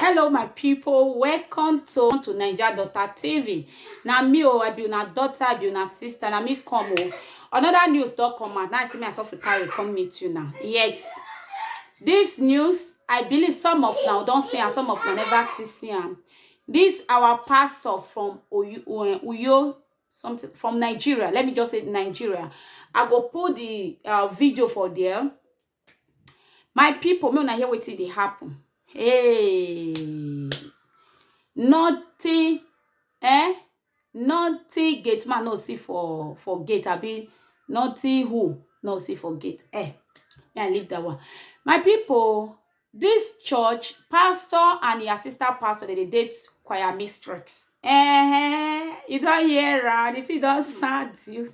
hello my people welcome to to naija daughter tv na me o i be una daughter i be una sister na me come o another news don come out now i say me i suffer carry come meet you now yes this news i believe some of now don see am some of now never still see am this our pastor from oyo, uh, uyo something from nigeria let me just say nigeria i go put the uh, video for there My pipu make una hear wetin dey happen. Hey! Nothing eh, nothing gate man no see for for gate abi nothing who no see for gate. Eh! Me I leave dat one. My pipu o, dis church pastor and im assistant pastor dem dey date choir mistress. Ehen! You don hear am, de tin don sad you.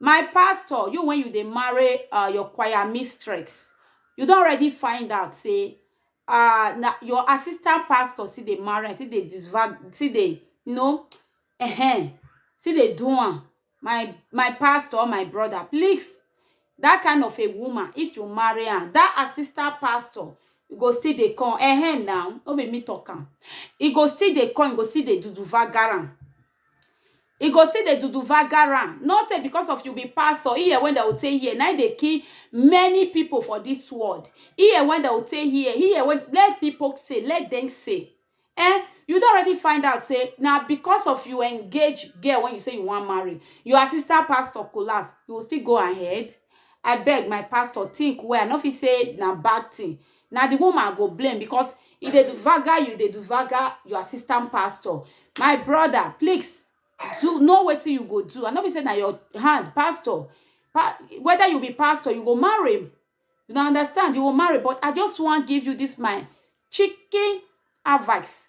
My pastor, you when you dey marry uh, your choir mistress, you don already find out say uh, na your assistant pastor still dey marry, am, still dey disvag, still dey you know, uh-huh, still dey do am. My my pastor, or my brother, please, that kind of a woman, if you marry am, that assistant pastor e go still dey come, uh-huh, now no be me talk am. E go still dey come, e go still dey duduvagara am. e go still dey duduvagar am not say because of you be pastor here when dem go take here na im dey kill many people for this world here when dem go take here here when let people say let them say eh you don already find out say na because of you engage girl when you say you wan marry your assistant pastor collapse you go still go ahead abeg my pastor think well i no fit say na bad thing na the woman i go blame because e dey duvaga you dey duvaga your assistant pastor my brother please do know wetin you go do i no be say na your hand pastor pa whether you be pastor you go marry him you na understand you go marry but i just wan give you this my chicken advice